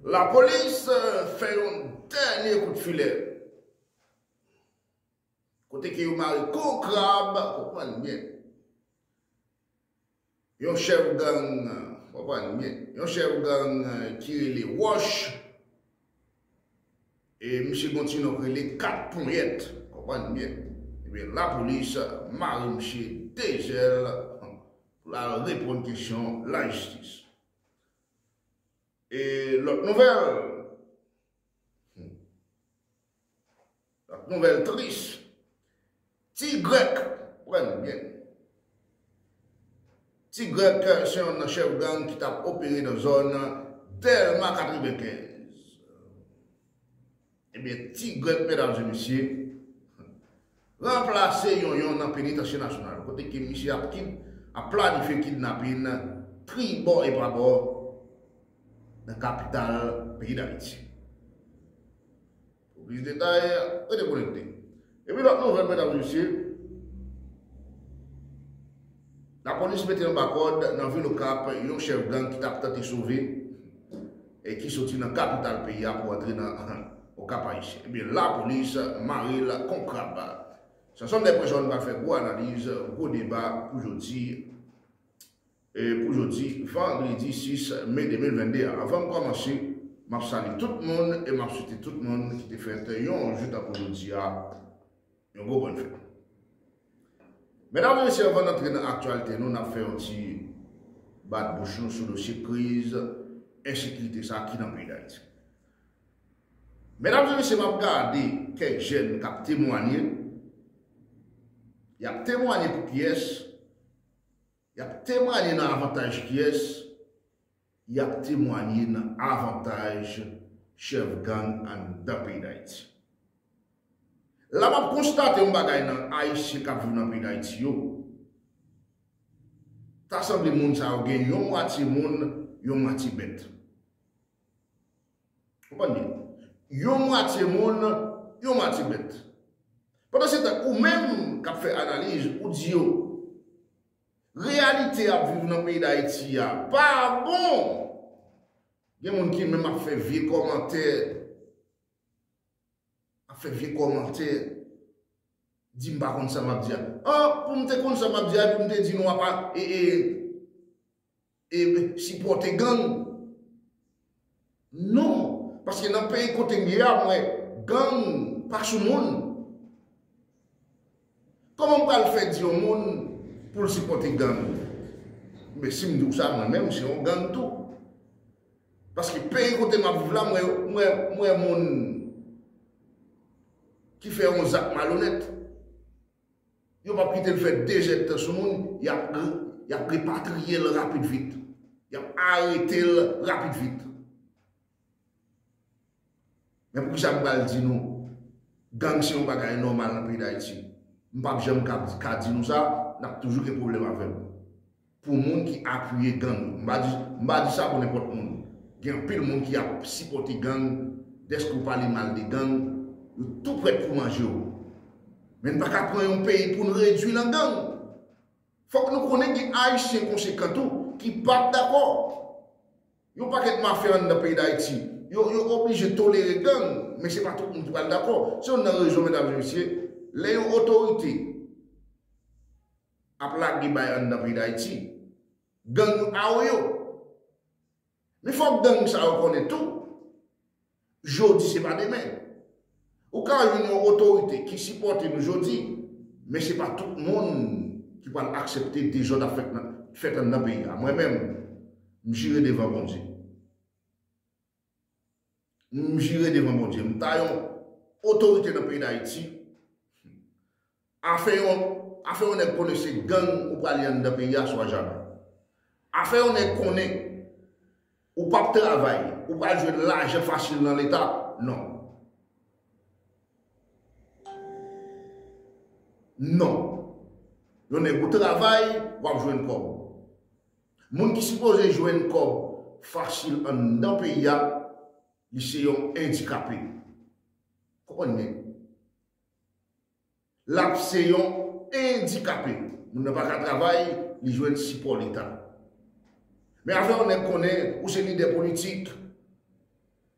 Lapolis fè yon dènye kout filè kote ke yo mare kou krab, konprann byen, yon chèf gang, konprann byen, yon chèf gang ki rele Wòch e misye gen yon ti non ki rele 4 ponyèt, konprann byen, ebyen lapolis mare misye 2 zèl pou l al reponn kesyon lajistis. E lòt nouvèl, lòt nouvèl tris, Ti Grèk pran nan men. Ti Grèk se yon nan chèf gang ki t ap opere nan zòn Dèlma 95. Ebyen ti grèt medam e mesye ranplase yonyon nan penitansye nasyonal kote ke misye ap kid ap planifye kidnapin tribò e prabò nan kapital peyi dayiti. Pou plis detay rete konekte. Epi lòt nouvèl medam e mesye, lapolis mete anba kòd nan vil Okap yon chèf gang ki tap tante sove e ki soti nan kapital peyi a pou antre nan Okap Ayisyen. Ebyen lapolis mare l kon krab. Samson Lèpre Jòn pral fè gwo analiz, gwo deba pou jodi. Pou jodi vandredi 6 me 2022 a avanm kòmanse map salye tout moun e map swete tout moun ki te fèt yon jou tankou jodi a yon gwo bòn fèt. Medam e mesye avan n antre nan aktyalite nou nap fè yon ti bat bouch nou sou dosye kriz ensekirite sa ki nan peyi Dayiti. Medam e mesye map gade kèk jèn kap temwanye yap temwanye pou kiyès Y ap temwanye nan avantaj kyès? Y ap temwanye nan avantaj chèf gang anndan peyi Dayiti. La m ap konstate yon bagay nan Ayisyen k ap viv nan peyi Dayiti yo. Ta sanble moun sa yo gen yon mwatye moun, yon mwatye bèt. Konprann byen. Yon mwatye moun, yon mwatye bèt. Pandan se tan ou menm k ap fè analiz, ou di yo, reyalite y ap viv nan peyi Dayiti a pa bon. Gen moun ki menm ap fè vye kòmantè, ap fè vye kòmantè, di m pa konn sa m ap di a. An, pou m te konn sa m ap di a epi m te di nou apa, e e. Ep sipòte gang non paske nan peyi kotem ye a mwen gang pa sou moun Koman m pral fè di yon moun pou l sipòte gang men si m di w sa mwen menm se yon gang tou paske peyi kote map viv la mwen wè moun ki fè yon zak malonèt. Yo pap kite l fè de jèt tan sou moun, y ap y ap repatriye l rapid vit. Y ap arete l rapid vit. Men poukisa m pral di nou gang se yon bagay nòmal nan peyi Dayiti? M pap janm ka di nou sa, n ap toujou gen pwoblèm avè l. Pou moun ki apuye gang yo. M pa di, m pa di sa pou nenpòt moun. Gen anpil moun ki ap sipòte gang, dèske w pale mal de gang, yo tou prèt pou manje w. Men n pa ka pran yon peyi pou n redui lan gang. Fòk nou konnen gen Ayisyen konsekan tou ki p ap dakò. Yon pakèt mafya anndan peyi Dayiti, yo oblije tolere gang, men se pa tout moun ki pral dakò. Se youn nan rezon medam e mesye, lè yon otorite. ap lage bay anndan peyi dayiti gang awoyo men fòk gang sa yo konnen tou jodi se pa demen ou ka jwenn yon otorite ki sipòte nou jodi men se pa tout moun ki pral aksepte dezòd ap fèt anndan peyi a mwen menm m jire devan bondye. M jire devan Bondye m pa yon otorite nan peyi dayiti afè yon afè yon nèg konnen se gang ou prale anndan peyi a se w a janm afè yon nèg konnen ou pap travay ou pral jwenn lajan fasil nan leta non non yon nèg ou travay wap jwenn kòb. Moun ki sipoze jwenn kòb fasil anndan peyi a, li se yon endikape. Konprann byen. L ap se yon endikape. Moun nan pa ka travay, li jwenn sipò Leta. Men afè yon nèg konnen ou se lidè politik,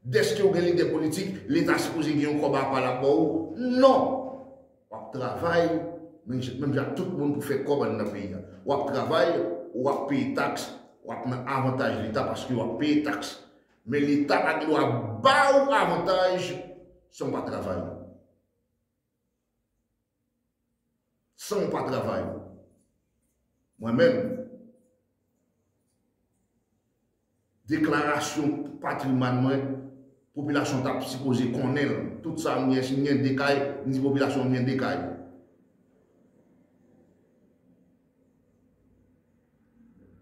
Deske ou gen lidè politik, leta sipoze gen yon kòb apa lap ba ou? Non! Wap travay, menm jan ak tout moun pou fè kòb anndan peyi a. Wap travay, ou ap peye taks, wap nan avantaj leta paske wap peye taks. Men leta pa gen dwa ba ou avantaj san ou pa travay. San w pa travay. Mwen menm, deklarasyon patrimwàn mwen, popilasyon ta sipoze konnen l. Tout sa m gen, si m gen 2 kay, m di popilasyon m gen 2 kay.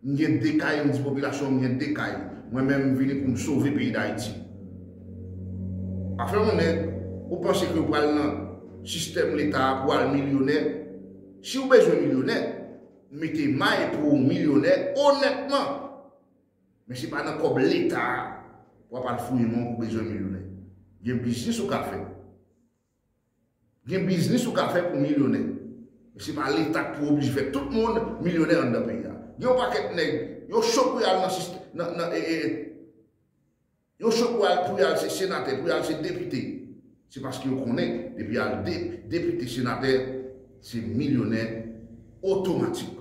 M gen 2 kay m di popilasyon an m gen 2 kay mwen men m vini pou m sove peyi dayiti pa fè yon nèg ou panse ke ou pral nan sistèm leta a pou al milyonè si ou bezwen milyonè mete may pou ou milyonè onètman men se pa nan kòb leta a wap al fouye non pou bezwen milyonè gen biznis ou ka fè. Gen biznis ou ka fè pou milyonè. Men se pa leta ki pou oblije fè tout moun milyonè anndan peyi a. Gen yon pakèt nèg, yo cho pou y al nan sistè, nan, nan, e, e, e. Yo cho pou y al, pou y al se senatè, pou y al se depite. Se paske yo konnen depi y al de, depite, senatè, se milyonè otomatik.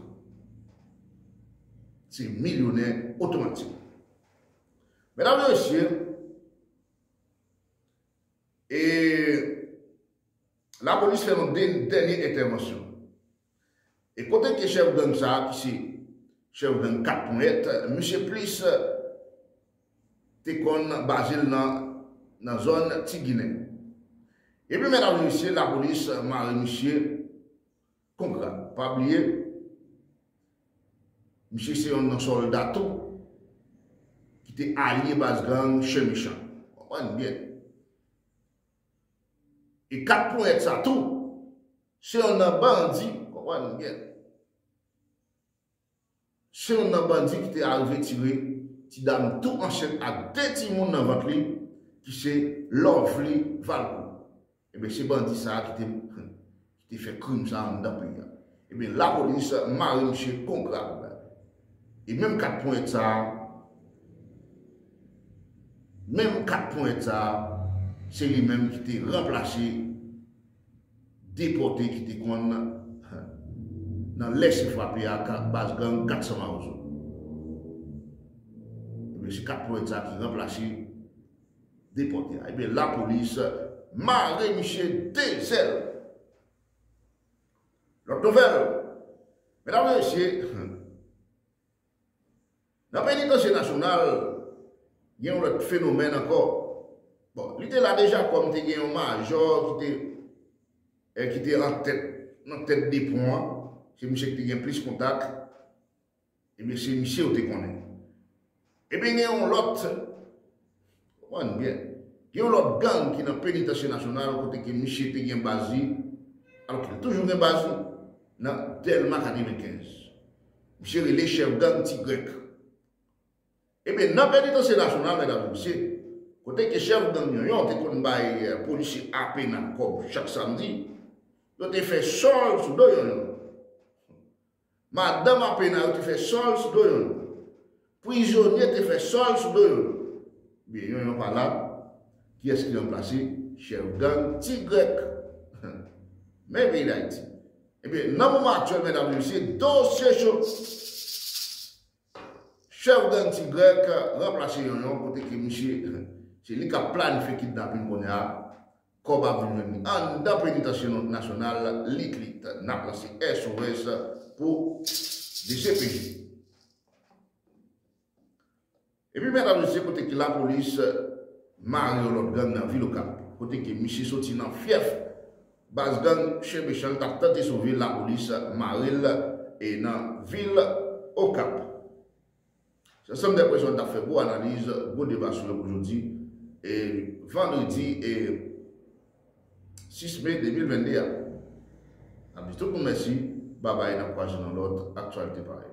Se milyonè otomatik. Medam e mesye, e lapolis fè yon dènye entèvansyon. E kote ke chèf gang sa a ki se chèf gang 4 ponyèt, misye plis te konn baze l nan zòn Ti Ginen. Epi medam e mesye lapolis mare misye. Kongra. Pa bliye misye se yon nan solda tou ki te alye baz gang Chen Mechan. Konprann byen. E 4 ponyèt sa tou se yon nan bandi. Konprann byen. se youn nan bandi ki te arive tire ti dam tou ansent ak 2 timoun nan vant li ki se Lovely Valcourt. Ebyen se bandi sa a ki te ki te fè krim sa a anndan peyi a. Ebyen lapolis mare misye bon grap. E menm 4 ponyèt sa a, menm 4 ponyèt sa a, se li menm ki te ranplase. depòte ki te konn nan lèse frape ak baz gang 400 mawozo. Ebyen se 4 pwen sa ki ranplase depòte a. Ebyen lapolis mare misye 2 zèl. Lòt nouvèl, medam e mesye, Nan penitansye nasyonal, gen yon lòt fenomèn ankò. Bon, li te la deja kòm te gen yon majò ki te eh ki te an tèt nan tèt de pon an, se misye ki te gen plis kontak, ebyen se misye ou te konnen. Ebyen gen yon lòt Konprann byen. Gen yon lòt gang ki nan Penitansye Nasyonal kote ke misye te gen baz li, alò ke li toujou gen baz li nan Dèlma 95. Misye rele chèf gang Ti Grèk. Ebyen, nan Penitansye Nasyonal, medam e mesye, kote ke chèf gang Yonyon te konn bay polisye Apena kòb chak samdi, yo te fè sòl sou do Yonyon. Madanm Apena yo te fè sòl sou do yon lòt. Prizonye te fè sòl sou do yon lòt. Byen, yon yon pa la, kiyès ki ranplase chèf gang Ti Grèk? Men peyi Dayiti. Ebyen, nan moman aktyèl, medam e mesye, dosye cho. Chèf gang ti grèk ranplase yonyon kote ke misye se li kap planifye kidnapin kounye a kòb ap vin jwenn li anndan penitansye nasyonal liklik nap lanse SOS pou dcpj epi mèt ap jije kote ke lapolis mare yon lòt gang nan vil okap kote ke misye soti nan fyèf Baz gang chyen mechan tap tante sove lapolis marel e nan vil okap. Se ansanm de pwezon tap fè gwo analiz gwo deba sou yo pou jodi e vandredi e 6 me 2022 a. Nap di tout moun mèsi babay nap kwaze nan lòt aktyalite parèy.